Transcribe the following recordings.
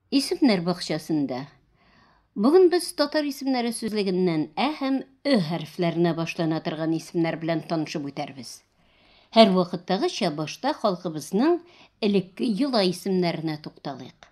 Исемнәр бакчасында. Бүген без татар исемнәре сүзлегеннән ә һәм ө хәрефләренә башлана торган исемнәр белән танышып үтәрбез. Һәрвакыттагыча башта халкыбызның элекке йола исемнәренә тукталыйк.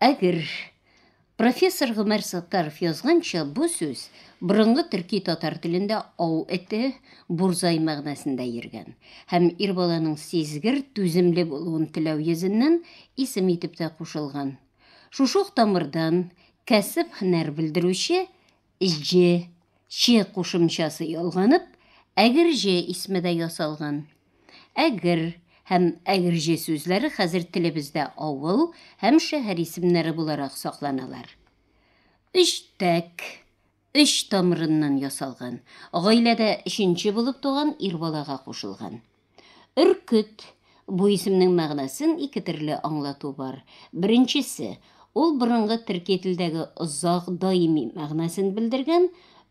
Әгер. Профессор Гомәр Саттаров язганча, бу сүз борынгы төрки татар телендә ау эте, бурзай мәгънәсендә йөргән һәм ир баланың сизгер, түземле булуын теләү йөзеннән исем итеп тә кушылган. Шушы ук тамырдан кәсеп-һөнәр белдерүче Җе, че кушымчасы ялганып, әгерҗе исме дә ясалган. Әгер һәм әгерҗе сүзләре хәзер телебездә авыл һәм шәһәр исемнәре буларак сакланалар. Өчтәк, өч тамырыннан ясалган, гаиләдә өченче булып туган ир балага кушылган. Өркет, бу исемнең мәгънәсен ике төрле аңлату бар. Беренчесе, ул борынгы төрки телдәге озак, даими мәгънәсен белдергән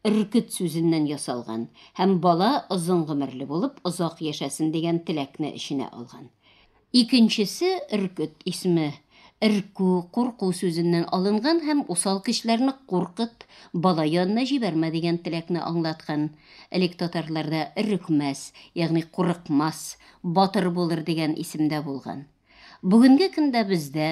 өркет сүзеннән ясалган һәм бала озын гомерле булып, озак яшәсен дигән теләкне эченә алган. Икенчесе, өркет исме, өркү, курку сүзеннән алынган һәм усал кешеләрне куркыт, бала янына җибәрмә дигән теләкне аңлаткан. Элек татарларда өрекмәс, ягъни курыкмас, батыр булыр дигән исем дә булган. Бүгенге көндә бездә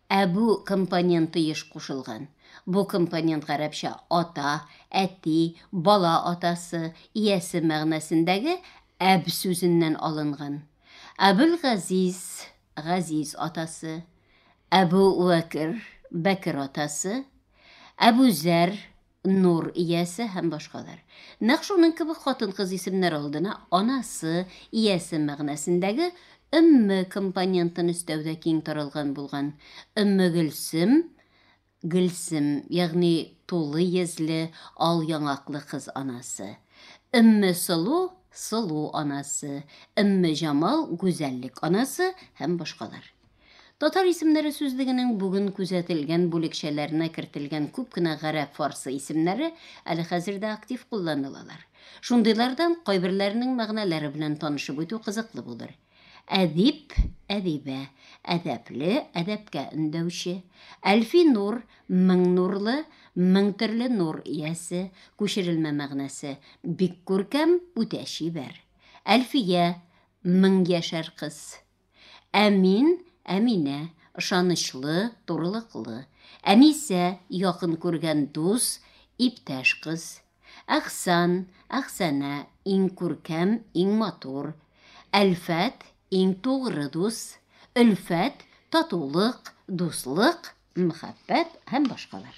Ә бу компоненты еш кушылган. Бу компонент гарәпчә ата, әти, бала атасы, иясе мәгънәсендәге әб сүзеннән алынган. Әбүлгазиз, газиз атасы. Әбү вәкер, бәкер атасы. Әбүзәр, Нур иясе һәм башкалар. Нәкъ шуның кебек хатын-кыз исемнәре алдына анасы, иясе мәгънәсендәге өмме компонентын өстәү дә киң таралган булган. Өммегөлсем, Гөлсем, ягъни тулы йөзле, ал яңаклы кыз анасы. Өммесылу, сылу анасы. Өммеҗамал, гүзәллек анасы һәм башкалар. Татар исемнәре сүзлегенең бүген күзәтелгән бүлекчәләренә кертелгән күп кенә гарәп-фарсы исемнәре әле хәзер дә актив кулланылалар. Шундыйлардан кайберләренең мәгънәләре белән танышып үтү кызыклы булыр. Әдип, әдибә, әдәпле, әдәпкә өндәүче. Әлфи нур, мең нурлы, мең төрле нур иясе, күчерелмә мәгънәсе, бик күркәм, үтә чибәр. Әлфия, мең яшәр кыз. Ә мин, Әминә, ышанычлы, турылыклы. Әнисә, якын күргән дус, иптәш кыз. Әхсан, Әхсанә, иң күркәм, иң матур. Әлфәт, иң тугры дус. Өлфәт, татулык, дуслык, мәхәббәт һәм башкалар.